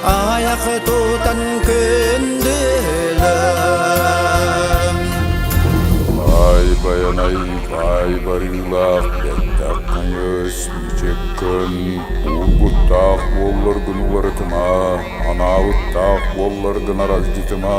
Аайах тутан күндүлэм Бай байанай бай барыылаах бэттэх тайыс мичик кын уургуттаах буоллар гын уларытыма анаабыттаах буоллар гынар алдьытыма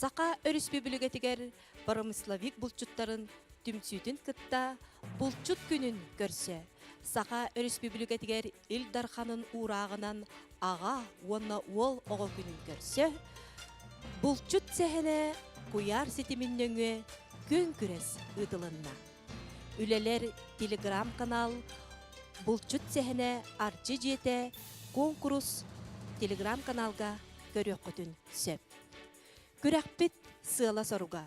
Саха Өрөспүүбүлүкэтигэр промысловик булчуттарын түмсүүтүн кытта Булчут күнүн көрсө Саха Өрөспүүбүлүкэтигэр Ил Дарханын уурааҕынан аҕа уонна уол оҕо күнүн көрсө, булчут сэһэнэ куйаар ситимин нөҥүө күн-күрэс ыытылынна. Үлэлэр телеграм-канал Булчут сэһэнэ Арчы дьиэтэ куонкурус телеграм-каналга көрүөххүтүн сөп. Күрэхпит сыала-соруга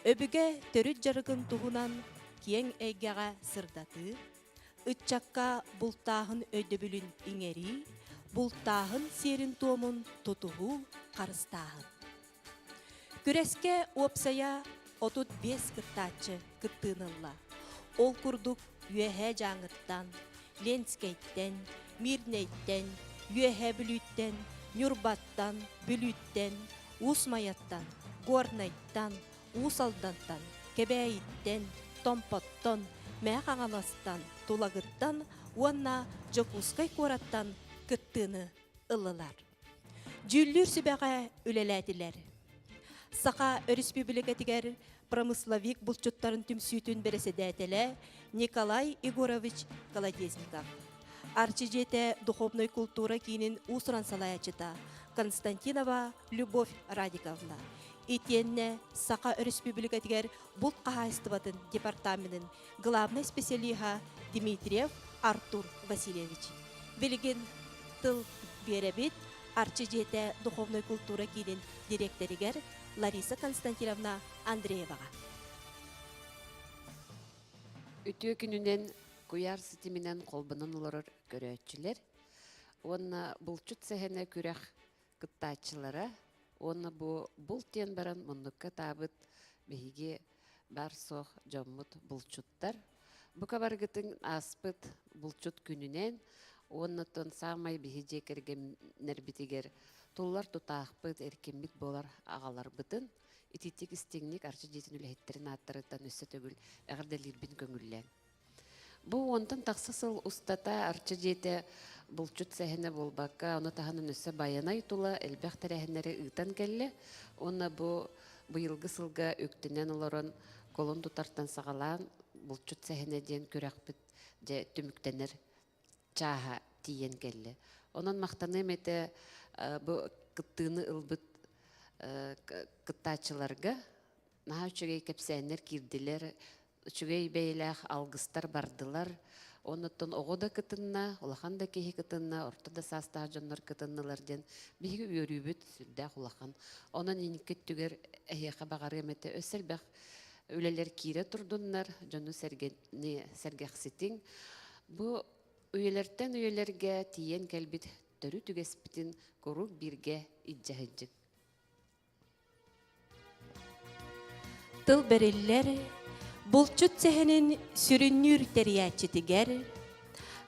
өбүгэ төрүт дьарыгын туһунан киэҥ эйгэҕэ сырдатыы, Ыччакка бултааһын өйдөбүлүн иҥэрии, бултааһын сиэрин-туомун тутуһуу, харыстааһын. Күрэскэ уопсайа 35 кыттааччы кыттыынылла. Ол курдук Үөһээ Дьааҥыттан, Ленскэйтэн, Мирнэйтэн, Үөһээ Бүлүүттэн, Ньурбаттан, Бүлүүттэн, Уус-Майаттан, Горнайтан, Уус Алдантан, Кэбээйиттэн, Томпоттон, Мэхэ-Хаҥаластан, Тулагыттан уонна Дьокуускай куораттан кыттыыны ыллылар. Дьүүллүүр сүбэҕэ үлэлээтилэр. Саха Өрөспүүбүлүкэтигэр промысловик булчуттарын түмсүүтүн бэрэссэдээтэлэ Николай Егорович Колодезников, Арчы дьиэтэ духовной култуура киинин уусуран салайааччыта Константинова Любовь Радиковна, Итиэннэ Саха Өрөспүүбүлүкэтигэр булт хаһаайыстыбатын департаменын главнай специалиһа Дмитриев Артур Васильевич. Билигин тыл биэрэбит Арчы дьиэтэ духовной култуура киинин дириэктэригэр Лариса Константиновна Андрееваҕа. Үтүө күнүнэн куйаар ситиминэн холбонон олорор көрөөччүлэр уонна булчут сэһэнэ күрэх кыттааччылара уонна бу булт диэн баран муннукка атаабыт биһиги баар-суох дьоммут булчуттар. Бука барыгытын ааспыт булчут күнүнэн уоннаттан саамай биһи дьиэ кэргэннэрбитигэр туллар тутаахпыт, эркиммит буолар аҕаларбытын итиитик истиҥник арчы дьиэтин үлэһиттэрин ааттарыттан өссө төгүл эҕэрдэлиирбин көҥүллээн Бу уонтан тахса сыл устата Арча дьиэтэ булчут сэһэнэ буолбакка, ону таһынан өссө Байанай тула элбэх тэрээһиннэри ыытан кэллэ уонна бу быйылгы сылга үктэнэн олорон колун тутартан саҕалаан булчут сэһэнэ диэн күрэхпит дьэ түмүктэнэр чааһа тиийэн кэллэ. Онон махтаныам этэ бу кыттыыны ылбыт кыттааччыларга наһаа үчүгэй кэпсээннэр киирдилэр, үчүгэй бэйэлээх алгыстар бардылар. Оннуттан оҕо да кытынна, улахан да киһи кытынна, орто да саастаах дьоннор кытыннылар диэн биһиги үөрүүбүт сүрдээх улахан. Онон инники өттүгэр эһиэхэ баҕарыам этэ өссө элбэх үлэлэр киирэ турдуннар, дьону сэргэни сэргэхситиҥ. Бу үйэлэртэн үйэлэргэ тиийэн кэлбит төрүт үгэспитин куруук бииргэ илдьэһиддьик. Тыл бэриллэр булчут сэһэнин сүрүннүүр тэрийээччитигэр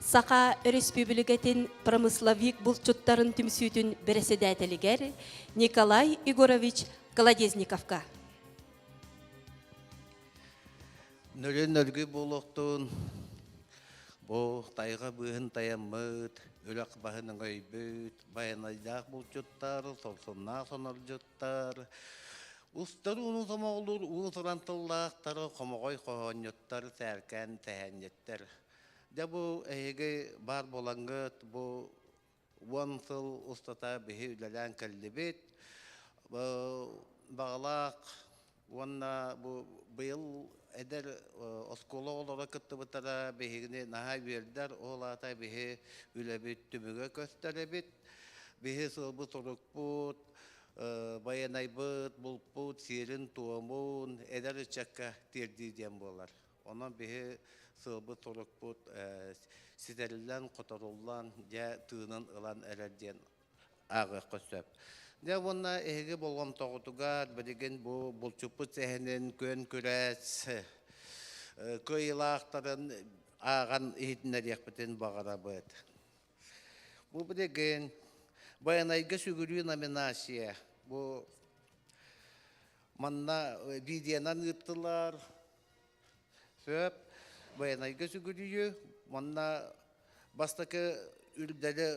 Саха Өрөспүүбүлүкэтин промысловик булчуттарын түмсүүтүн бэрэсэдээтэлигэр Николай Егорович Колодезниковка. Нөлүн өлгүй буолуохтун. Бу тайга быыһын таяммыт, үлэх баһын өйбүт, байанайдаах булчуттар, солсуннаах сонордьуттар, устар уунун сомоҕолуур уун сыран тыллаахтар, хомоҕой хоһоонньуттар, сээркээн тэһээнньиттэр. Дьэ бу эһиги баар буолаҥҥыт, бу уон сыл устата биһи үлэлээн кэллибит. Баҕалаах уонна бу быйыл эдэр оскуола оҕолоро кыттыбыттара биһигини наһаа үөрдэр, ол аата биһи үлэбит түмүгэ көстөрөбүт. Биһи сылбыт-сорукпут, байанайбыт, булпут сиэрин-туомун эдэр ыччакка тиэрдии диэн буолар. Онон биһи сыалбыт-турукпут ситэриллэн-хоторуллан, дьэ, тыынын ылан эрэр диэн ааҕыахха сөп. Дьэ уонна эһиги болҕомтоҕутугар билигин бу булчуппут сэһэнин күөн-күрэс кыайыылаахтарын ааҕан иһитиннэриэхпитин баҕарабыт. Бу билигин Байанайга сүгүрүү номинация бу манна видеонан ыыттылар Сөп, военнайга сүгүрүйү, манна бастакы үрдэлі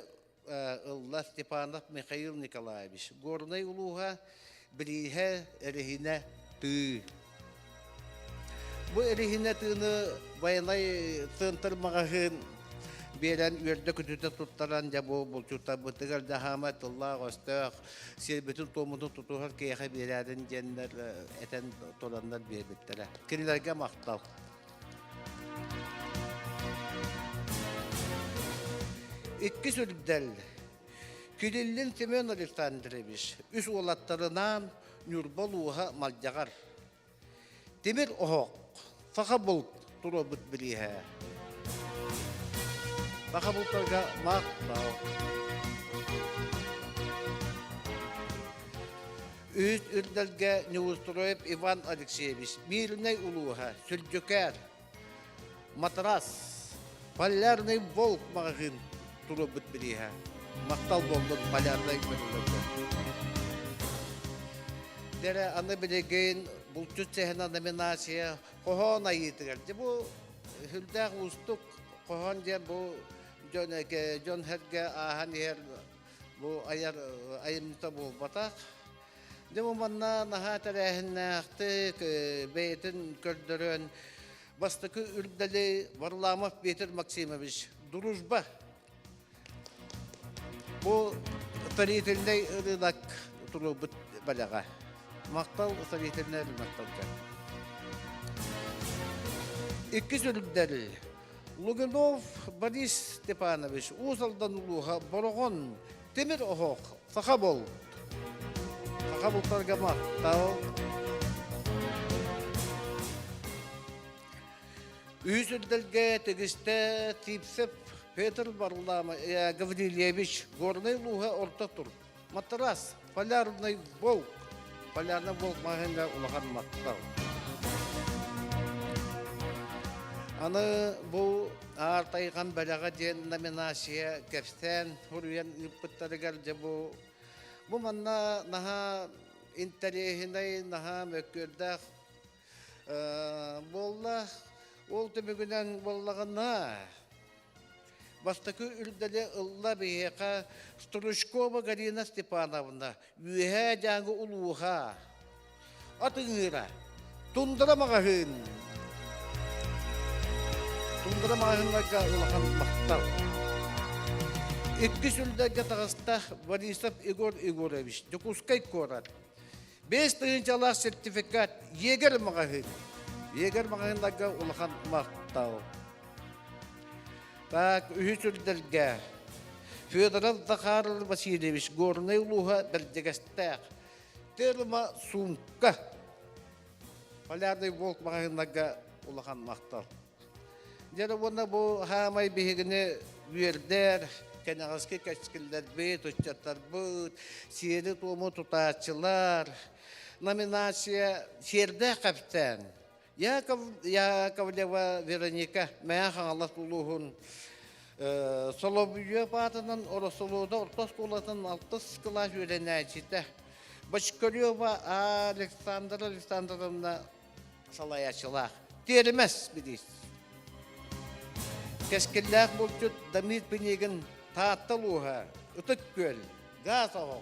ылла Степанов Михаил Николаевич. Горнай улууһа Билииһэ Элихинэ тыы. Бу Элихинэ тыыны военнай центр магаһын биэрэн үөрдэ күтүтэ туттаран дьабу булчута бытыгар даһама тыллаах өстөөх сирбитин-туоммутун тутуһан киэхэ биэрээтин диэннэр этэн тураннар биэрбиттэрэ. Кинилэргэ махтал. Иккис үрдэл Килиллин Семен Александрович үс уолаттарынаан Ньурба улууһа Малдьаҕар Тимир оһох, саха булт туруорбут бирииһэ. Саха бултарга махтал. Үүт үрдэлгэ Неустроев Иван Алексеевич, Мирнэй улууһа, Сүлдьүкээр, Матрас, полярный волк маҕаһыын туруорбут бирииһэ. Махтал буоллун полярнай бөлүлөргө. Дэрэ аны билигин булчут чэһинэ номинация хоһоон айыытыгар. Дьэ бу хүлдээх уустук хоһоон диэн бу дьон дьон һэргэ ааһан иһэр бу айар айымньыта буолбатах. Дьэ бу манна наһаа тэрээһиннээхтик бэйэтин көрдөрөн бастакы үрдәли Варламов Петр Максимович Дружба бу строительный рынок турубут балаға мақтал строительный рынок тұрды икки жүрдәл Лугинов Борис Степанович Уус Алдан улууха Бороҕон Темир оһох, саха бол. Саха бултарга махтал. Үүсүрдэлгэ тегисте Типсеп Петр Варлама э, Гаврильевич Горный луга орта тур. Матрас, полярный волк. Полярный волк махынга улахан маттал. Аны бу Аар Тайҕан бэлэҕэ диэн номинация кэпсээн суруйан ыыппыттарыгар дьэ бу бу манна наһаа интэриэһинэй, наһаа мөккүөрдээх буолла. Ол түмүгүнэн буоллаҕына бастакы үрдэли ылла биһиэхэ Стручкова Галина Степановна Үөһээ Дьааҥы улууһа атыҥыыра Тундара маҕаһыын Тундара маҕаһыыннарга улахан махтал иккис үлдэргэ таҕыста Борисов Егор Егорович Дьокуускай куорат бэс тыһыынчалаах сертификат Егер маҕаһыын Егер маҕаһыыннарга улахан махтал Так, үһүс үрдэлгэ Федоров Захаров Васильевич Горнай улууһа Бэрдьэгэстээх. Терма сумка. Полярный волк маҕаһыыннарга улахан махтал. Дьэ уонна бу хаамай биһигини үөрдэр, кэнэҕэски кэскиллэрбит, ыччаттарбыт, сиэри-туому тутааччылар, номинация Сиэрдээх капитан, Яков, Яковлева Вероника Мэйэ Хаҥалас улууһун Солобуйуоп аатынан Оросолуода орто оскуолатын алтыс кылаас үөрэнээччитэ Бочкарева Александра Александровна салайааччылаах. Тиэрмэс билиис. Кэскиллээх булчут Дамир Пинигин Таатта улууһа Ытык Күөл Газ оҕо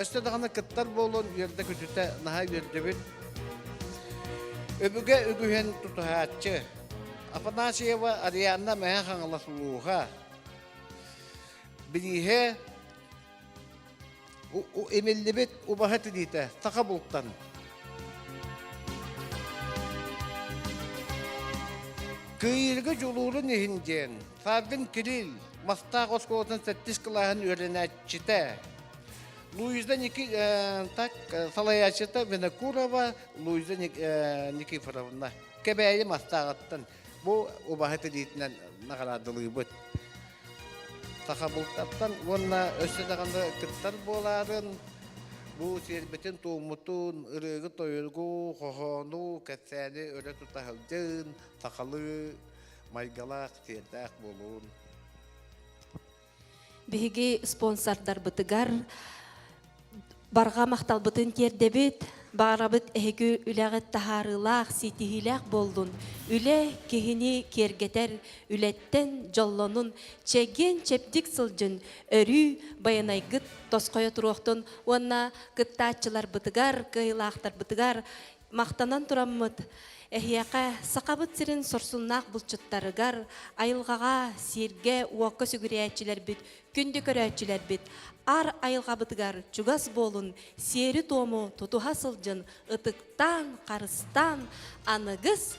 Өстө даҕаны кыттар буолун үөрдэ-көтүтэ наһаа үөрдүбүт. Өбүгэ үгүһүн тутуһааччы Афанасьева Арианна Мэһэ Хаҥалас улууһа. Бирииһэ имиллибит убаһа тириитэ саха бултан. Кыйыырга дьулуурун иһин диэн Фабин Кирилл, Мастаах оскуолатын сэттис кылааһын үөрэнээччитэ. Луиза Ники, э, так, э, салайааччыта Винокурова Луиза э, Никифоровна. Кэбээйи Мастааҕыттан бу убаһыт илиитинэн наҕараадалыыбыт. Саха бултартан уонна өссө даҕаны кыттар буолаарын, бу сиэрбитин туоммутун, ырыыгы-тойугу, хоһоону, кэпсээни өрө тута сахалыы майгылаах, сиэрдээх буолуун. Биһиги спонсордарбытыгар барҕа махталбытын тиэрдэбит. Баарабыт эһиги үлэҕит таһаарыылаах, ситиһиилээх боллун. Үлэ киһини киэргэтэр, үлэттэн дьоллонун, чэгиэн чэбдик сылдьын, өрүү байанайгыт тосхойо туруохтун уонна кыттааччыларбытыгар, кыайыылаахтарбытыгар Махтанан тураммыт, эһиэхэ, Сахабыт сирин сорсуннаах булчуттарыгар, айылҕаҕа, сииргэ, уокка сүгүрүйээччилэрбит, күндү көрөөччүлэрбит, аар айылҕабытыгар чугас буолун, сиэри-туому тутуһа сылдьын, ытыктаан, харыстаан, аныгыс,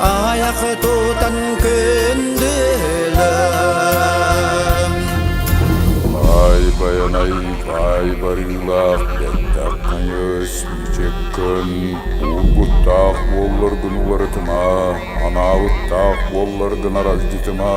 Аайах тутан күндүлэм Ай байанай ай барыылаах бэртэх тайыс мичик кын уургуттаах буоллар гын уларытыма анаабыттаах буоллар гын аралдьытыма